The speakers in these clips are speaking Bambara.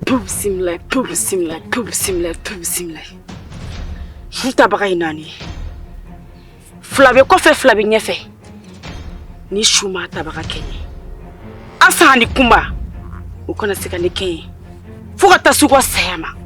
Tubi bisimila tubi bisimila tubi bisimila tubi bisimila su tabaga ye naani ye fila bɛ kɔfɛ fila bɛ ɲɛfɛ ni su ma tabaga kɛ n ye asan ani kunba u kana se ka ne kɛ ye fo ka taa se u ka saya ma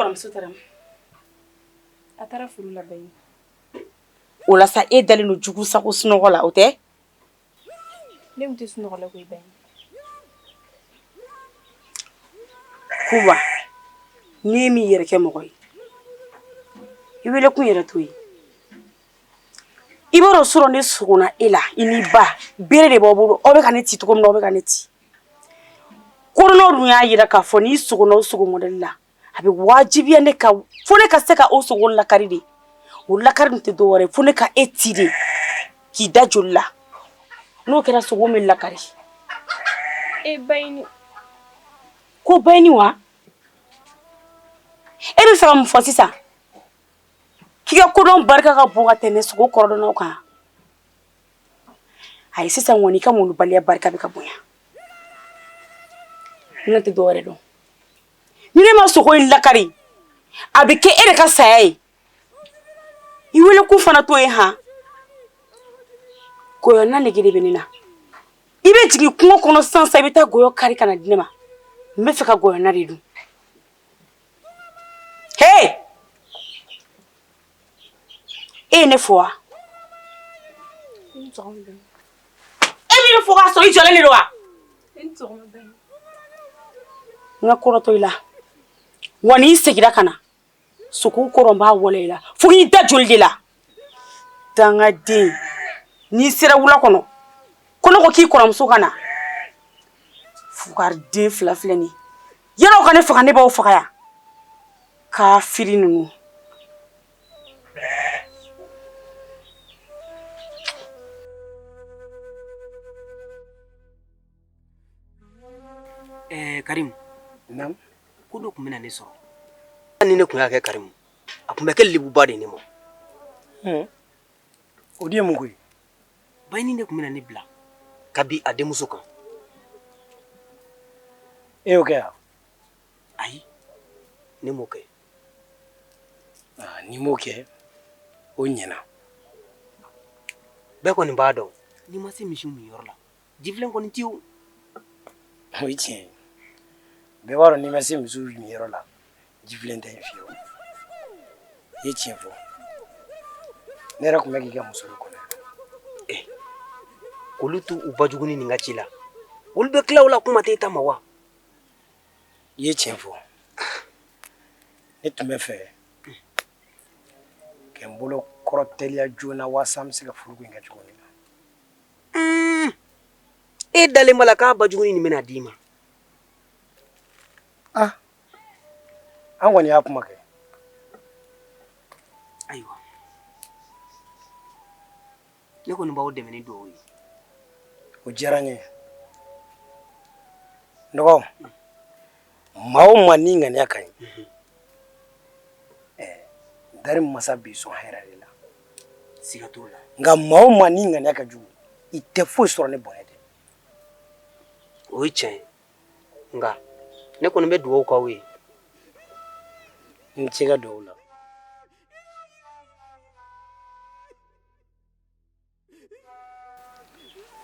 kɔrɔmuso taara min a taara furu la bɛɛ ye o la sa e dalen don jugu sago sunɔgɔ la o tɛ Ne tɛ sunɔgɔ la koyi n'i m'i yɛrɛ kɛ mɔgɔ ye i wele kun yɛrɛ to yen i b'a sɔrɔ ne sogona e la i ni ba bere de b'aw bolo aw bɛ ka ne ci cogo min aw bɛ ka ne ci kodɔn dun y'a jira k'a fɔ n'i sogona sogo mɔdɛli la a bɛ wajibiya ne kan fo ne ka se ka o sogo lakari de o lakari tɛ dɔ wɛrɛ fo ne ka e ci de k'i da joli la n'o kɛra sogo bɛ lakari e ba ko bayini wa e bɛ fɛ ka mun fɔ sisan k'i ka kodɔn barika ka bon ka tɛmɛ sogo kɔrɔdɔnnaw kan ayi sisan kɔni i ka malobaliya barika bɛ ka bonya ne tɛ dɔ wɛrɛ dɔn ni ne ma sogo in lakari a bɛ kɛ e de ka saya ye i wele kun fana to yen h gɔyɔnna nege de bɛ ne na i bɛ jigin kungo kɔnɔ sisan i bɛ taa gɔyɔ kari ka n'a di ne ma n bɛ fɛ ka gɔyɔnna de dun h e ye ne fo wa e ye ne fo k'a sɔrɔ i jɔlen de don wa n ka kɔrɔtɔ i la wa n'i seginna ka na sogo kɔrɔ n b'a wale i la fo k'i da joli de la dangaden n'i sera wula kɔnɔ ko ne ko k'i kɔrɔmuso ka na fugari den fila filɛ nin yanni aw ka ne faga ne b'aw faga yan kafiri ninnu karimu ko dɔ tun bɛna ne sɔrɔ ni ne tun y'a kɛ karimu a tun bɛ kɛ lebuba de ne ma o de ye mun koyi bayini de tun bɛna ne bila ka bin a denmuso kan e y'o kɛ yan ayi ne m'o kɛ ah, n'i m'o kɛ o ɲɛna bɛɛ kɔni b'a dɔn n'i ma se misiw min yɔrɔ la jifilen kɔni tɛ yen o ye tiɲɛ ye bɛɛ b'a dɔn n'i ma se misiw min yɔrɔ la jifilen tɛ yen fiyewu i ye tiɲɛ fɔ ne yɛrɛ tun bɛ k'i ka muso de kɔnɔ eh, olu t'u u bajuguni nin ka ci la olu bɛ tila o la kuma tɛ i ta ma wa i ye tiɲɛ fɔ ne tun b'a fɛ ka n bolo kɔrɔ teliya joona waasa n bɛ se ka furu in kɛ cogo min na e dalen b'a la k'a bajuguni nin bɛn'a d'i ma ah an kɔni y'a kuma kɛ ne kɔni b'aw dɛmɛ ni dugawu ye o diyara n ye dɔgɔ maa o maa n'i ŋaniya ka ɲi dali masa b'i sɔn hɛrɛ de la siga t'o la nka maa o maa n'i ŋaniya ka jugu i tɛ foyi sɔrɔ ni bɔnɛ tɛ o ye tiɲɛ ye nka ne kɔni bɛ dugawu k'aw ye n tɛ sɛgɛn dugawu la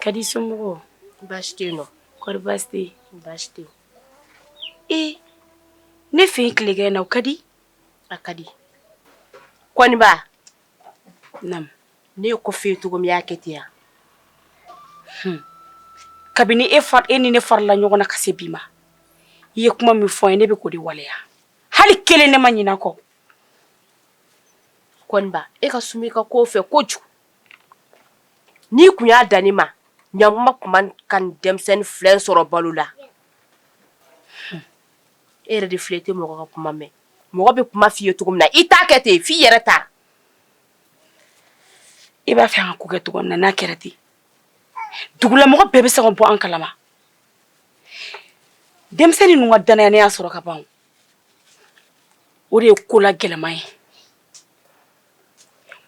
Kadi somɔgɔw baasi tɛ yen nɔ kɔri baasi tɛ yen baasi tɛ yen ee ne fɛ yen tilegan in na o ka di a ka di kɔniba naamu ne ye ko f'e ye cogo min i y'a kɛ ten wa hun kabini e fa e ni ne farala ɲɔgɔn na ka se bi ma i ye kuma min fɔ n ye ne bɛ k'o de waleya hali kelen ne ma ɲinɛ a kɔ e ka suman i ka ko fɛ kojugu n'i tun y'a dan ne ma ɲakuma tun man kan ka denmisɛnnin fila sɔrɔ balo la e yɛrɛ de fana tɛ mɔgɔ ka kuma mɛn mɔgɔ bɛ kuma fɔ i ye cogo min na i t'a kɛ ten f'i yɛrɛ ta i b'a fɛ an ka ko kɛ cogo min na n'a kɛra ten dugulamɔgɔ bɛɛ bɛ se ka bɔ an kalama denmisɛnnin ninnu ka dannaya ne y'a sɔrɔ ka ban o de ye ko la gɛlɛman ye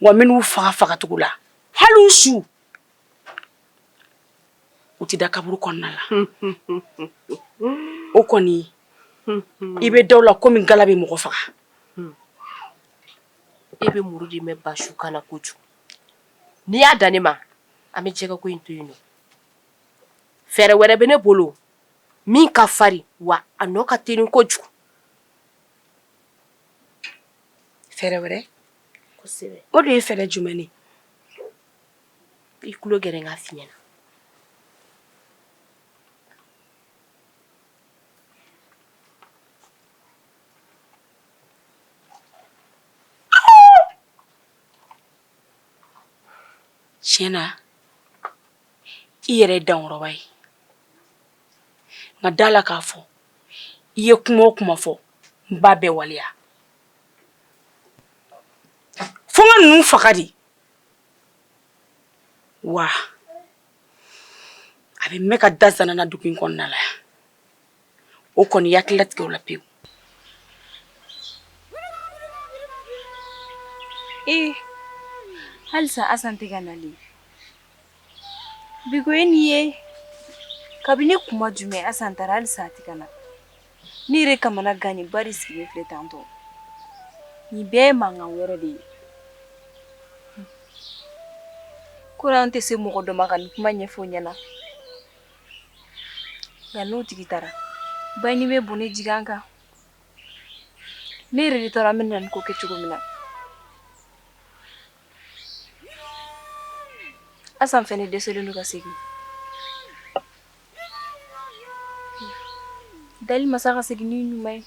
wa n bɛn'u faga fagacogo la hali u su tɛ da kaburu kɔnɔna la o kɔni i bɛ da la komi ngala bɛ mɔgɔ faga e bɛ muru di bɛ ba su kan na kojugu n'i y'a dan ne ma an bɛ jɛgɛ ko in to yen fɛɛrɛ wɛrɛ bɛ ne bolo min ka farin wa a nɔ ka teli kojugu fɛɛrɛ wɛrɛ o de ye fɛɛrɛ jumɛn ye i tulo gɛrɛ k'a f'i ɲɛ na tiɲɛ na i yɛrɛ ye dankɔrɔba ye nka da a la k'a fɔ i ye kuma o kuma fɔ n b'a bɛɛ waleya fo n ka ninnu faga de wa a bɛ mɛn k'a da zana na dugu in kɔnɔna la o kɔni jate latigɛ la pewu ee halisa asan tɛ ka na de bi koyi nin ye kabini kuma jumɛn asan taara halisa a tɛ ka na ne yɛrɛ kamanagannenba de sigilen filɛ tan tɔ nin bɛɛ ye mankan wɛrɛ de ye ko an tɛ se mɔgɔ dɔ ma ka nin kuma ɲɛfɔ an ɲɛna Nka n'o tigi taara ba ɲini bɛ bon ji kan ne yɛrɛ de taara a mɛɛnna ko kɛ cogo min na asan fana dɛsɛlen don ka segin dali masa k'a segin ni ɲuman ye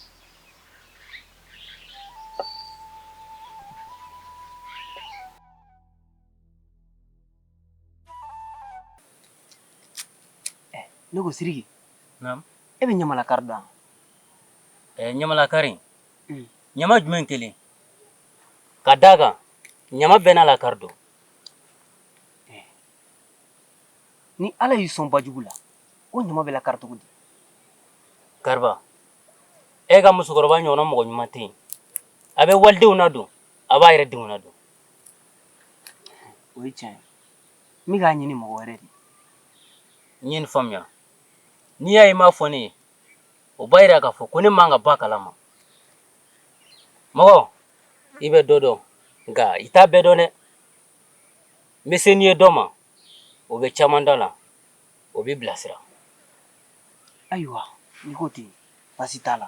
eh, ne ko Sidiki e bɛ ɲamalakari dɔn eh, ɲamalakari mm. ɲama jumɛn kelen ka d'a kan ɲama bɛɛ n'a lakari don eh. ni ala y'i sɔn ba jugu la o ɲama bɛ lakari cogo di kariba e ka musokɔrɔba ɲɔgɔnna mɔgɔ ɲuman tɛ yen a bɛ walidenw ladon a b'a yɛrɛ denw ladon O ye tiɲɛ ne k'a ɲini mɔgɔ wɛrɛ de n ye nin faamuya n'i y'a ye i m'a fɔ ne ye o b'a jira k'a fɔ ko ne man ka b'a kala ma mɔgɔ i bɛ dɔ dɔn nka i t'a bɛɛ dɔn dɛ n bɛ se n'i ye dɔ ma o bɛ caman da la o b'i bilasira ayiwa n'i ko ten baasi t'a la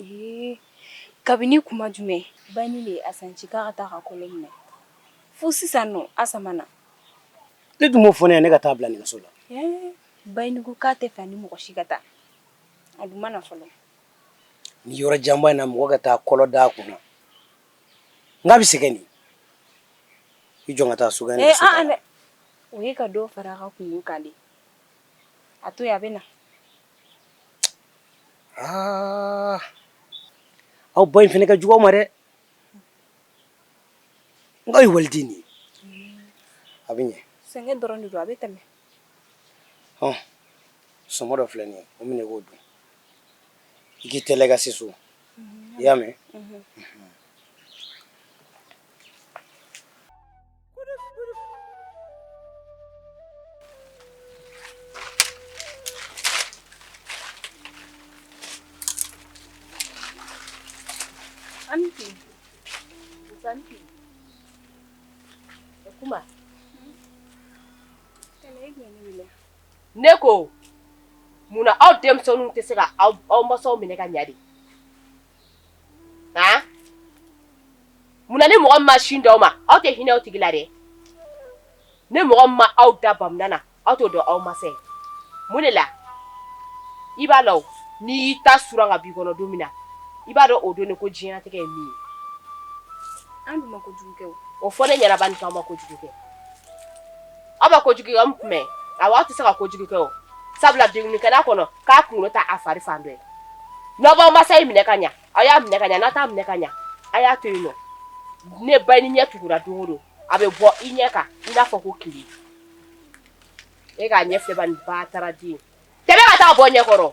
Ee kabini kuma jumɛn Bayini de ye Asan ci k'a ka taa a ka kolo minɛ fo sisan nɔ Asan ma na? E dun m'o fɔ ne ɲɛna ne ka taa a bila nɛgɛso la. Ee Bayini ko k'a tɛ fɛ a ni mɔgɔ si ka taa, a dun ma na fɔlɔ. Nin yɔrɔ janba in na mɔgɔ ka taa kolo da a kun na, n k'a bɛ sɛgɛn de. I jɔ n ka taa so kɔnɔ. Ee an-an dɛ! O ye ka dɔ fara a ka kunko kan de. a to a bɛ na aa aw ba in fana ka jugu a ma dɛ nka a ye waliden de ye a bɛ ɲɛ sɛgɛn dɔrɔn de don a bɛ tɛmɛ hɔn sɔmɔ dɔ filɛ nin ye o minɛ k'o dun i k'i teliya ka se so i y'a mɛn Anti. Anti. Kuma. Ne ko munna aw denmisɛnninw tɛ se ka aw masaw minɛ ka ɲɛ de munna ni mɔgɔ ma sin di aw ma aw tɛ hinɛ o tigi la dɛ ni mɔgɔ ma aw da bamunan na aw tɛ dɔn aw masa ye mun de la i b'a dɔn n'i ta sera k'a b'i kɔnɔ don min na i b'a dɔn o don ne ko diɲɛnatigɛ ye min ye o fɔ ne ɲɛna Bayini ma kojugu kɛ Aw bɛ ko jugu kan mɛn a aw tɛ se ka ko jugu kɛ sabula den kɛl'a kɔnɔ k'a kɔnɔ ta a fari fan dɔ n'aw b'aw masaw minɛ ka ɲɛ aw y'a minɛ ka ɲɛ n'aw t'a minɛ ka ɲɛ a y'a to yen ni Bayini ɲɛ tugura don o don a bɛ bɔ i ɲɛ kan i b'a fɔ ko ki e k'a ɲɛ bataraden ka taa bɔ n ɲɛkɔrɔ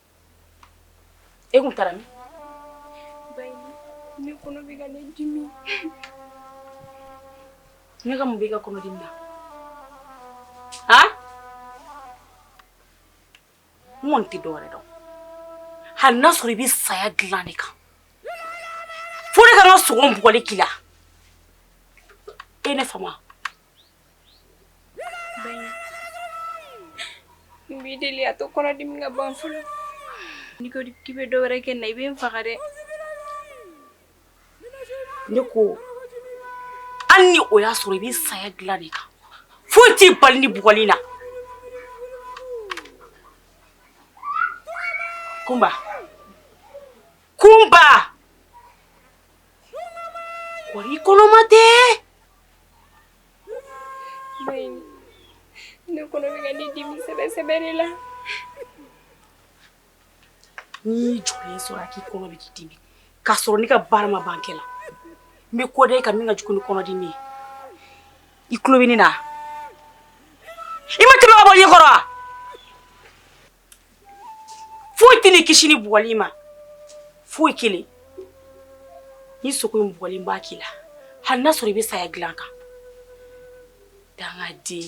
e tun taara min ne kɔnɔ bɛ ka ne dimi ne ka mun b'i ka kɔnɔdimi na han n kɔni tɛ dɔwɛrɛ dɔn hali n'a sɔrɔ i bɛ saya dilan de kan fo ne ka n sago bugɔli k'i la e ye ne faamu wa N b'i deli a to kɔnɔdimi ka ban fɔlɔ n'i ko k'i bɛ dɔ wɛrɛ kɛ n na i bɛ n faga dɛ ne ko hali ni o y'a sɔrɔ i bɛ saya dilan de kan foyi t'i bali nin bugɔli la kunba kunba wa i kɔnɔma tɛ ne kɔnɔ bɛ ka ne dimi sɛbɛ sɛbɛ de la n'i jɔlen sɔrɔ yan k'i kɔnɔ bɛ k'i dimi k'a sɔrɔ ne ka baara ma ban kɛ la n bɛ ko da e kan min ka jugu ni kɔnɔdimi ye i tulo bɛ ne na i ma tɛmɛ ka bɔ n ɲɛkɔrɔ wa foyi tɛ n'i kisi nin bugɔli ma foyi kelen ni sogo in bugɔli b'a k'i la hali n'a sɔrɔ i bɛ saya dilan kan dangaden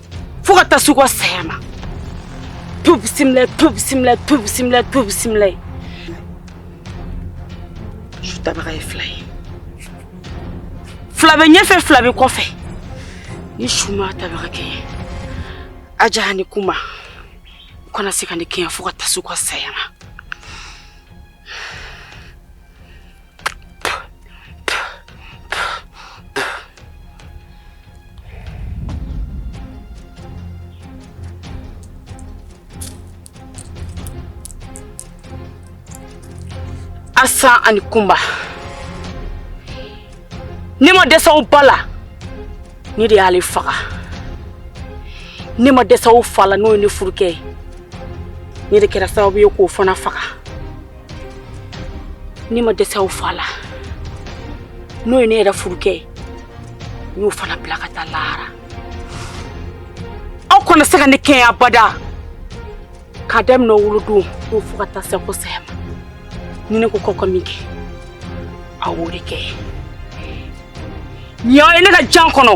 fo ka taa se u ka saya ma tubi bisimila tubi bisimila tubi bisimila tubi bisimila ye su tabaga ye fila ye fila bɛ ɲɛfɛ fila bɛ kɔfɛ ni su ma tabaga kɛɲɛ Asan ni Kunba u kana se ka ne kɛɲɛ fo ka taa se u ka saya ma Asan ani Kunba ne ma dɛsɛ aw ba la ne de y'ale faga ne ma dɛsɛ aw fa la n'o ye ne furukɛ ye ne de kɛra sababu ye k'o fana faga ne ma dɛsɛ aw fa la n'o ye ne yɛrɛ furukɛ ye n y'o fana bila ka taa lahara aw kana se ka ne kɛɲɛ abada k'a daminɛ aw wolodon na fo ka taa se aw ka saya ma ni ne ko k'aw ka min kɛ aw b'o de kɛ nin y'aw ye ne ka jan kɔnɔ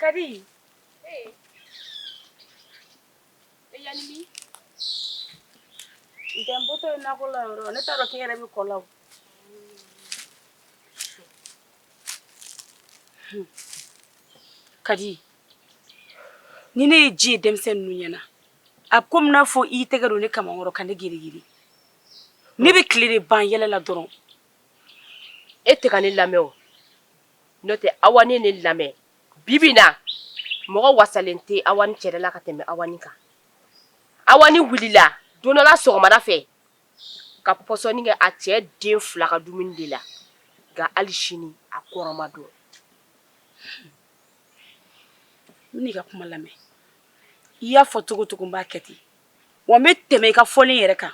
Kadi ntɛnpotɔ ye nakɔ la yɔrɔ ne taara k'i yɛrɛ bɛ kɔ la Kadi ni ne ye ji ye denmisɛnnin ninnu ɲɛ na a bɛ komi n'a fɔ i tɛgɛ don ne kamankɔrɔ ka ne girigiri ne bɛ tile de ban yɛlɛ la dɔrɔn e tɛ ka ne lamɛn o n'o tɛ Awani ne lamɛn bi bɛ na mɔgɔ wasalen tɛ Awani cɛla ka tɛmɛ Awani kan Awani wulila don dɔ la sɔgɔmada fɛ ka pɔsɔni kɛ a cɛ den fila ka dumuni de la nka hali sini a kɔrɔ ma dɔn ne ka kuma lamɛn i y'a fɔ cogocogo n b'a kɛ ten wa n bɛ tɛmɛ i ka fɔlen yɛrɛ kan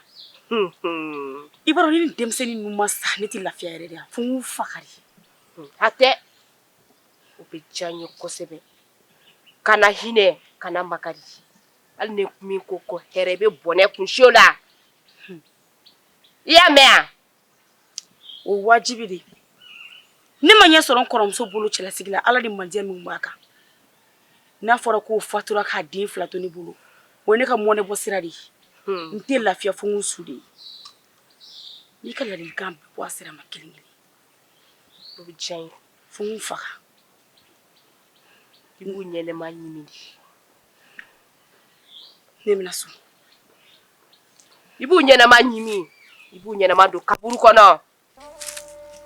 i b'a dɔn ni denmisɛnnin ninnu ma sa ne tɛ lafiya yɛrɛ de fo n faga de hatɛ o bɛ diya n ye kosɛbɛ kana hinɛ kana makari hali ni min ko ko hɛrɛ bɛ bɔnɛ kun la i y'a mɛn yan o wajibi de ne ma ɲɛ sɔrɔ n kɔrɔmuso bolo cɛlasigi la ala ni mandiya min b'a kan n'a fɔra k'o fatura k'a den fila to ne bolo o ne ka mɔnɛ bɔ sira de ye hmm. n tɛ lafiya fo ninnu su de ye n'i ka laadikan bɔ a sira ma kelen kelen o bɛ diya n ye fo u faga i b'u ɲɛnama ɲimi de ne bɛna so i b'u ɲɛnama ɲimi i b'u ɲɛnama don kaburu kɔnɔ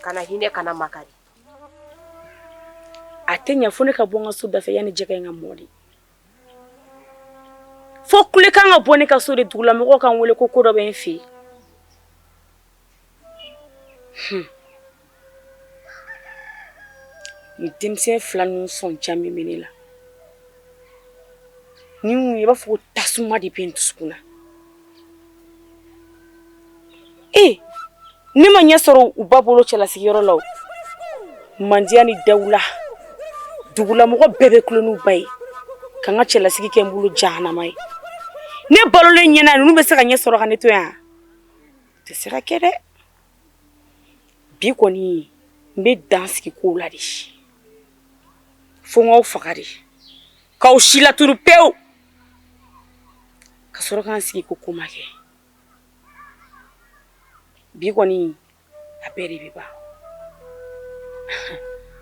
kana hinɛ kana makari a tɛ ɲɛ fo ne ka bɔ n ka so dafɛ yanni jɛgɛ in ka mɔ de fo kulekan ka bɔ ne ka so de dugulamɔgɔ ka n wele ko ko dɔ bɛ n fɛ yen u denmisɛn fila ninnu sɔnja min bɛ ne la i b'a fɔ ko tasuma de bɛ n dusukun na ee ne ma ɲɛ sɔrɔ u ba bolo cɛla sigiyɔrɔ la mandiya ni dawula dugulamɔgɔ bɛɛ bɛ kolo u ba ye ka n ka cɛlasigi kɛ n bolo jahanama ye ne balolen ɲɛna ninnu bɛ se ka ɲɛ sɔrɔ ka ne to yan tɛ se ka kɛ dɛ bi kɔni n bɛ dan sigi ko la de fo n k'aw faga de k'aw silatunu pewu ka sɔrɔ ka n sigi ko ko ma kɛ bi kɔni a bɛɛ de bɛ ban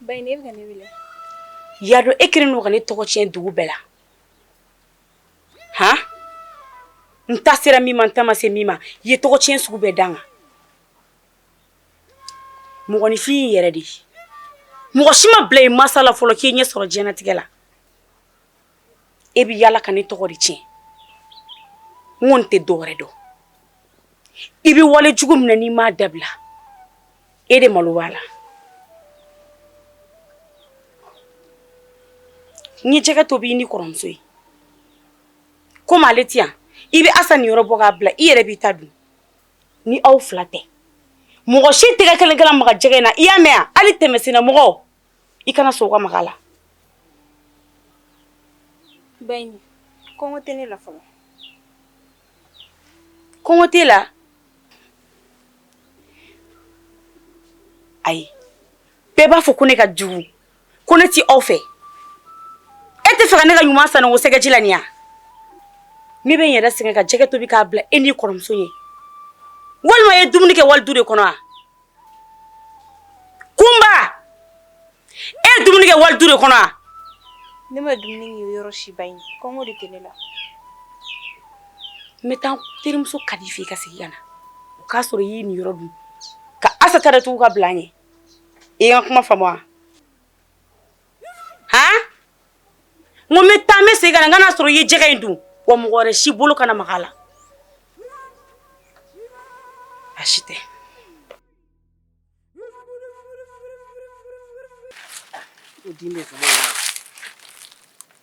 Ba ne bɛ ne wele yalo e kɛlen don ka ne tɔgɔ cɛn dugu bɛɛ la hɔn n taa sera min ma n taa ma se min ma ye n tɔgɔ cɛn sugu bɛɛ la nka mɔgɔninfin yɛrɛ de mɔgɔ si ma bila i masala fɔlɔ k'i ɲɛ sɔrɔ diɲɛlatigɛ la e bɛ yala ka ne tɔgɔ de tiɲɛ n ko tɛ dɔ wɛrɛ dɔn i bɛ wale jugu min na n'i m'a dabila e de malo b'a la n ye jɛgɛ tobi i ni kɔrɔmuso ye komi ale tɛ yan i bɛ asa niyɔrɔ bɔ k'a bila i yɛrɛ b'i ta dun ni aw fila tɛ mɔgɔ si tɛgɛ kelen kana maga jɛgɛ in na i y'a mɛn yan hali tɛmɛsen na mɔgɔ i kana sɔn ka maga a la ba kɔngɔ tɛ ne la fɔlɔ kɔngɔ t'i la ayi bɛɛ b'a fɔ ko ne ka jugu ko ne tɛ aw fɛ e t'a fɛ ka ne ka ɲuman san o sɛgɛji la yan ne bɛ n yɛrɛ sɛgɛn ka jɛgɛ tobi k'a bila e n'i kɔrɔmuso ye walima i ye dumuni kɛ wali du de kɔnɔ wa Kunba e ye dumuni kɛ wali du de kɔnɔ ne ma dumuni kɛ yɔrɔ si ba kɔngɔ de tɛ ne la n bɛ taa n terimuso Kadi fɛ yen ka segin ka na o k'a sɔrɔ i y'i niyɔrɔ dun ka asa ta datugu k'a bila yen e ka kuma fa n ko n bɛ taa n bɛ segin ka na n ka n'a sɔrɔ i ye jɛgɛ in dun wa mɔgɔ si bolo kana maga a la dɛ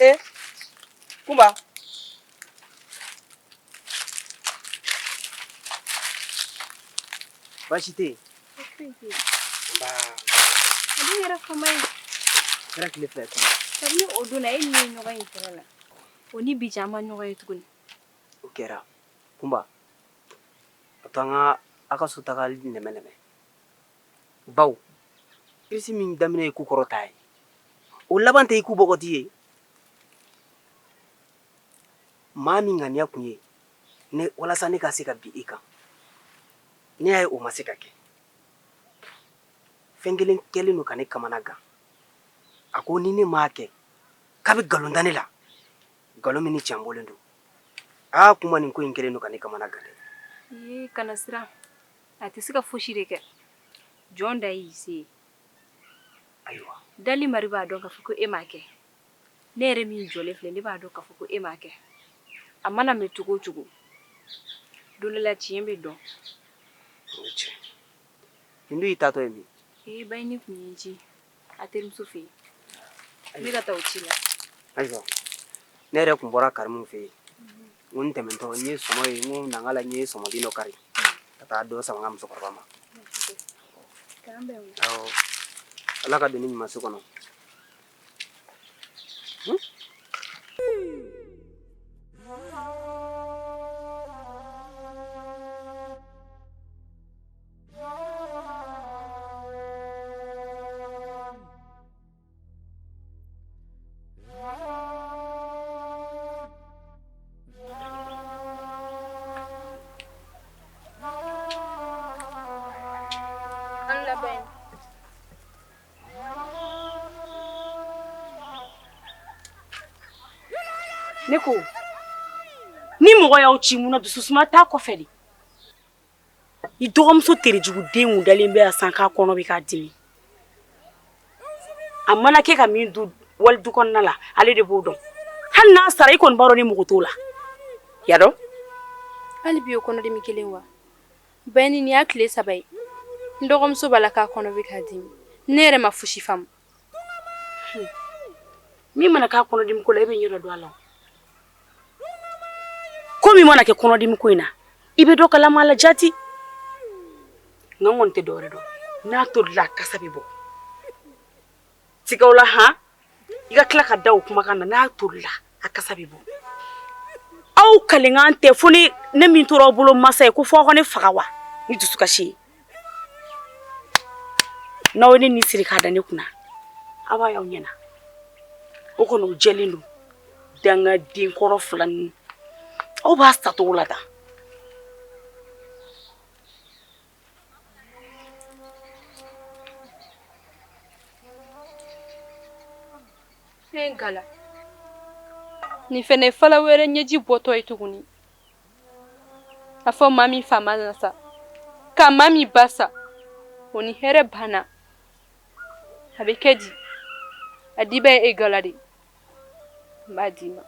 Eh, Kumba. Baasi tɛ yen. Nba. A dun yɛrɛ fama ye. Kɛra tile fila ye tuguni. Kabini o don na e ni ne ye ɲɔgɔn ye kɛlɛ la. O ni bi cɛ an ma ɲɔgɔn ye tuguni. O kɛra. Kunba, a to an ka a ka so tagali nɛmɛ nɛmɛ. bawo kirisi min daminɛ ye ku kɔrɔta ye o laban tɛ i ku bɔgɔti ye maa min ŋaniya tun ye ne walasa ne ka se ka bin i kan ne y'a ye o ma se ka kɛ fɛn kelen kɛlen don ka ne kamana gan a ko ni ne m'a kɛ k'a bɛ nkalon da ne la nkalon min ni tiɲɛ bɔlen don aa kuma nin ko in kɛlen don ka ne kamana gan dɛ kana siran a tɛ se ka fosi de kɛ jɔn da y'i se ye ayiwa dali mari b'a dɔn k'a fɔ ko e m'a kɛ ne yɛrɛ min jɔlen filɛ ne b'a dɔn k'a fɔ ko e m'a kɛ a mana mɛ cogo o cogo don dɔ la tiɲɛ bɛ dɔn o ye tiɲɛ ye. nin dun y'i taatɔ ye min ee ba de tun ye n ci a terimuso fɛ yen n bɛ ka taa o ci la ayiwa ne yɛrɛ tun bɔra karimu fɛ yen N ko n tɛmɛntɔ n ye sɔmɔ ye n ko na n k'a lajɛ n ye sɔmɔden dɔ kari ka taa dɔ sama n ka musokɔrɔba ma K'an bɛn wuli. awɔ Ala ka doni ɲuman si kɔnɔ Ne ko ni mɔgɔ y'aw ci mun na dusu suma t'a kɔfɛ de i dɔgɔmuso terejuguden dalen bɛ san k'a kɔnɔ bɛ ka dimi a mana kɛ ka min dun wali du kɔnɔna la ale de b'o dɔn hali n'a sara i kɔni b'a dɔn ne mago t'o la i y'a dɔn hali bi o kɔnɔdimi kelen wa ba nin y'a tile saba ye n dɔgɔmuso b'a la k'a kɔnɔ bɛ ka dimi ne yɛrɛ ma fosi faamu min mana k'a kɔnɔdimi ko la e bɛ ɲɛ dɔn a la ko min mana kɛ kɔnɔdimi ko in na i bɛ dɔ kalama a la jati ne kɔni tɛ dɔwɛrɛ dɔn n'a tolila kasa bɛ bɔ siga t'o la han i ka tila ka da o kumakan na n'a tolila a kasa bɛ bɔ aw ka laɲini tɛ fo ni ne min tora aw bolo masa ye ko fɔ aw ka ne faga wa ni dusukasi ye n'aw ye ne ni siri k'a da ne kunna aw b'a y'aw ɲɛ na o kɔni o jɛlen don dangaden kɔrɔ fila ninnu aw ba sa tɔgɔ la tan fɛn gala nin fɛnɛ ye fala wɛrɛ ɲɛji bɔtɔ ye tuguni a fɔ maa min fa mana sa ka maa min ba sa o ni hɛrɛ banna a bɛ kɛ di a diba ye e gala de n b'a d'i ma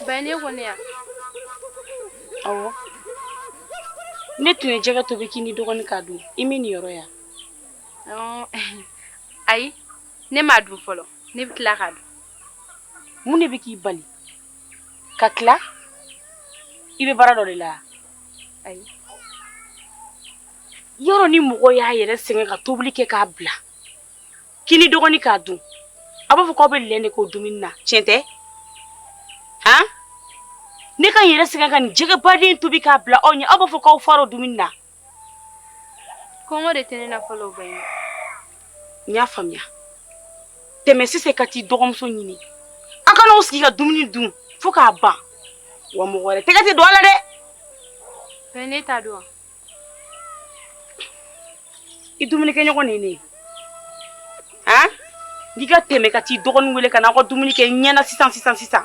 Bɛn ne kɔni yan ne tun ye jɛgɛ tobi k'i ni dɔgɔnin k'a dun i m'i niyɔrɔ ye ayi ne m'a dun fɔlɔ ne bɛ tila k'a dun mun de bɛ k'i bali ka tila i bɛ baara dɔ de la ayi yɔrɔ ni mɔgɔ y'a yɛrɛ sɛgɛn ka tobili kɛ k'a bila k'i ni dɔgɔnin k'a dun aw b'a fɔ k'aw bɛ lɛn de k'o dumuni na tiɲɛ tɛ han ne ka n yɛrɛ sɛgɛn ka nin jɛgɛbaden tobi k'a bila aw ɲɛ aw b'a fɔ k'aw far'o dumuni na kɔngɔ de tɛ ne na fɔlɔ bɛ ye n y'a faamuya tɛmɛ sisan ka t'i dɔgɔmuso ɲini aw ka n'aw sigi ka dumuni dun fo k'a ban wa mɔgɔ wɛrɛ tɛgɛ tɛ don a la dɛ bɛn ne t'a dɔn i dumunikɛɲɔgɔn de ye ne ye han n k'i ka tɛmɛ ka t'i dɔgɔnin wele ka na aw ka dumuni kɛ ɲɛna sisan sisan sisan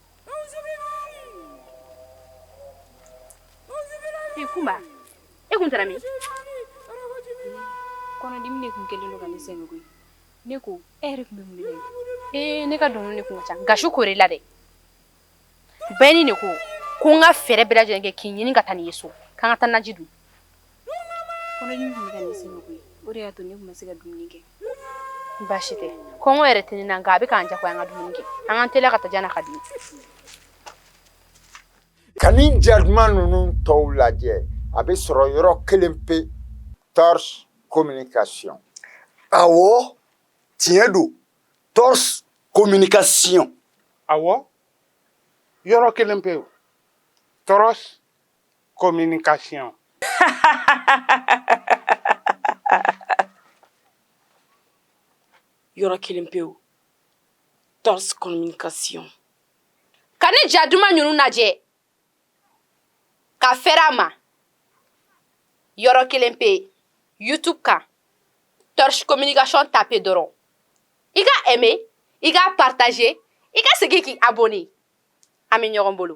kunba e kun taara min kɔnɔdimi de tun kɛlen don ka ne sɛgɛn koyi ne ko e yɛrɛ tun bɛ mun de ee ne ka dɔnkili de tun ka ca nka su kore la dɛ bɛɛ ni de ko ko n ka fɛɛrɛ bɛɛ lajɛlen kɛ k'i ɲini ka taa n'i ye so k'an ka taa naji dun kɔnɔdimi tun bɛ ka ne sɛgɛn koyi o de y'a to ne tun ma se ka dumuni kɛ baasi tɛ kɔngɔ yɛrɛ tɛ ne na nka a bɛ k'an jagoya an ka dumuni kɛ an k'an teliya ka taa yann'a ka dimi ka nin ja duman ninnu tɔw lajɛ a bɛ sɔrɔ yɔrɔ kelen pe tɔrs communication awɔ tiɲɛ don tɔrs communication awɔ yɔrɔ kelen pe tɔrs communication yɔrɔ kelen pe tɔrs communication ka nin ja duman ninnu lajɛ ka fɛrɛ a ma yɔrɔ kelen pe youtube kan tɔrs communication tape dɔrɔn i ka aimé i ka partager i ka segin k'i abonné an bɛ ɲɔgɔn bolo